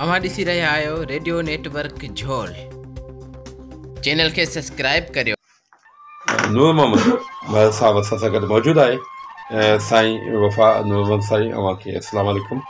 اوهان ڏسي رهيا آهيو radio network Jhol channel کي سبسڪرائب ڪريو نور محمد بهل صاحب اسان سان گڏ موجود آهي سائين وفا نور محمد سائين اوهان کي اسلام عليڪم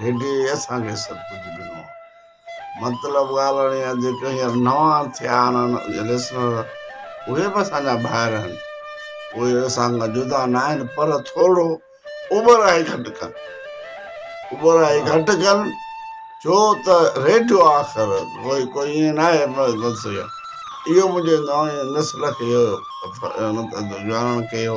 هيڏي اسان کي سڀ ڪجهه ڏنو. مطلب ڳالهه اهڙي آهي جيڪي هينئر نوان ٿيا آهن جي لسنر اهي به اسان جا ڀائر آهن اهي اسان کان جدا نه آهن پر ٿورو اوٻرائي گهٽ ڪن اوٻرائي گهٽ ڪن ڇو ته ريڊيو آخر ڪوئي ڪوئي ائين نه آهي اهو منهنجي نوائي نسل کي اهو ڄاڻڻ ڪيو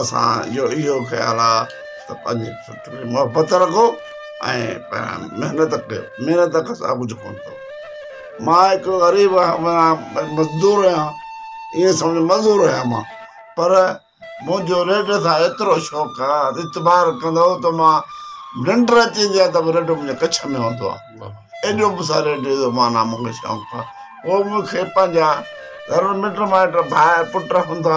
اسان جو اهو خيال آ ته پنهنجي فطرت سان محبت رکو ۽ محنت ڪيو محنت کان سواء ڪجهه ڪونه ٿو مان هڪ غريب آهيان مزدور آهيان ائين سمجهه مزور آهيان مان پر منهنجو ريڊ سان ايترو شوق آ اعتبار ڪندو ته مان ننڊ اچي ويندي آ ته به ريڊيو منهنجي ڪڇ ۾ هوندو آ ايڏو به سريٽي جو معنيٰ مون کي شوق هو. پوء مون کي پنهنجا ضرور مٽ مائٽ، ڀائر، پٽ هوندا.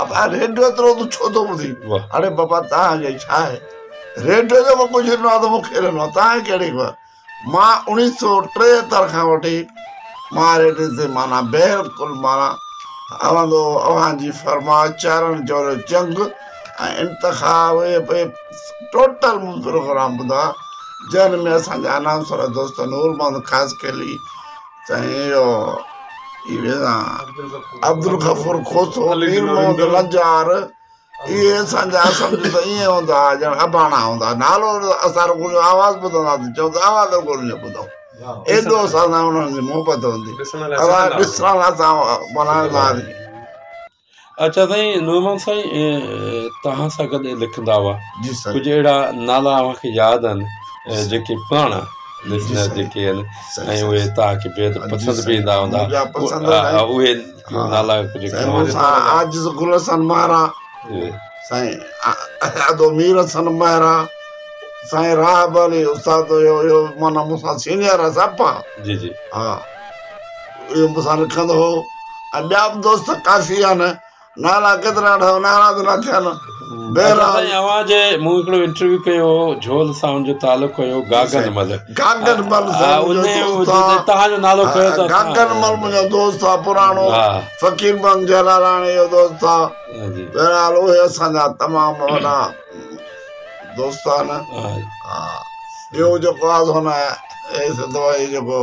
ابا ريڊيو ايترو تون ڇو ٿو ٻڌين؟ اڙي بابا توهان کي ڇا آهي؟ ريڊيو جيڪو ڪجهه ڏنو آهي ته مون کي ڏنو آهي، توهان کي ڪهڙي خبر؟ مان اوڻيهه سؤ ٽيهتر کان وٺي مان ريڊيو تي معنيٰ بهرالڪل معنيٰ هوندو هو. اوهان جي فرماء چارڻ جهڙو چنگ ۽ انتخاب ٽوٽل پروگرام ٻڌا جنهن ۾ اسان جا اناؤنسر دوست نور محمد خاصخيلي سائين عبدالغفور کوسو مير محمد لنجار اهي اسان جا سمجهو ته ائين هوندا هئا ڄڻ اباڻا هوندا نالو اسان رڳو آواز ٻڌنداسين چون ته آواز رڳو انهن جو ٻڌو ايڏو اسان سان انهن جي محبت هوندي ڏسڻ لاء اسان بنارس آياسين اچا سائين نعمان سائين توهان سان گڏ لکندا هئا جي سر ڪجهه اهڙا نالا اوهان کي ياد آهن جيڪي پراڻا لسنر جيڪي آهن ۽ اهي توهان کي بيحد پسند به ايندا هوندا اهي نالا ڪجهه عاجز گل حسن مهرا سائين ادو مير حسن مهرا سائين راهب علي استاد هيو معنی مون سان سينيئر آهي سڀ جي جي ها اهو مون سان لکندو هو ۽ ٻيا به دوست ڪافي آهن نالا ڪيترا وٺايو نالا به نه ٿيا نه بهرحال اوهان جي مون هڪڙو انٽرويو ڪيو هو جھول سان ان جو تعلق هيو گاگن مل گاگن مل تهان جو نالو کيو اٿو گاگن مل منهنجو دوست آ پراڻو فقير بند جلالاڻي جو دوست آ بهرحال اهي اسان جا تمام وڏا دوست آهن ٻيو جيڪو آ سو نه اي سندو اي جيڪو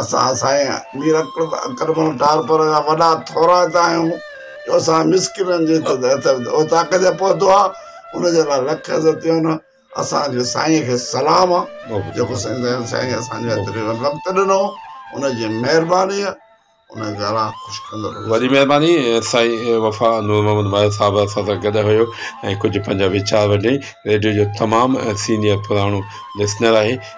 اسان سائين مير اڪرمل ٽالپر جا وڏا ٿورائتا آهيون جو اسان مسڪينن جي اوطاق تي پهتو آهي ان جي لاء لک عزتيون اسانجي سائين کي سلام آهي جيڪو سائين سائين اسانجي هٿري وقت ڏنو ان جي مهرباني آهي ان جي لاء خوش ڪندڙ وڏي مهرباني سائين وفا نور محمد ماهي صاحب اسان سان گڏ هيو ۽ ڪجهه پنهنجا ويچار وڏي ريڊيو جو تمام سينيئر پراڻو لسنر آهي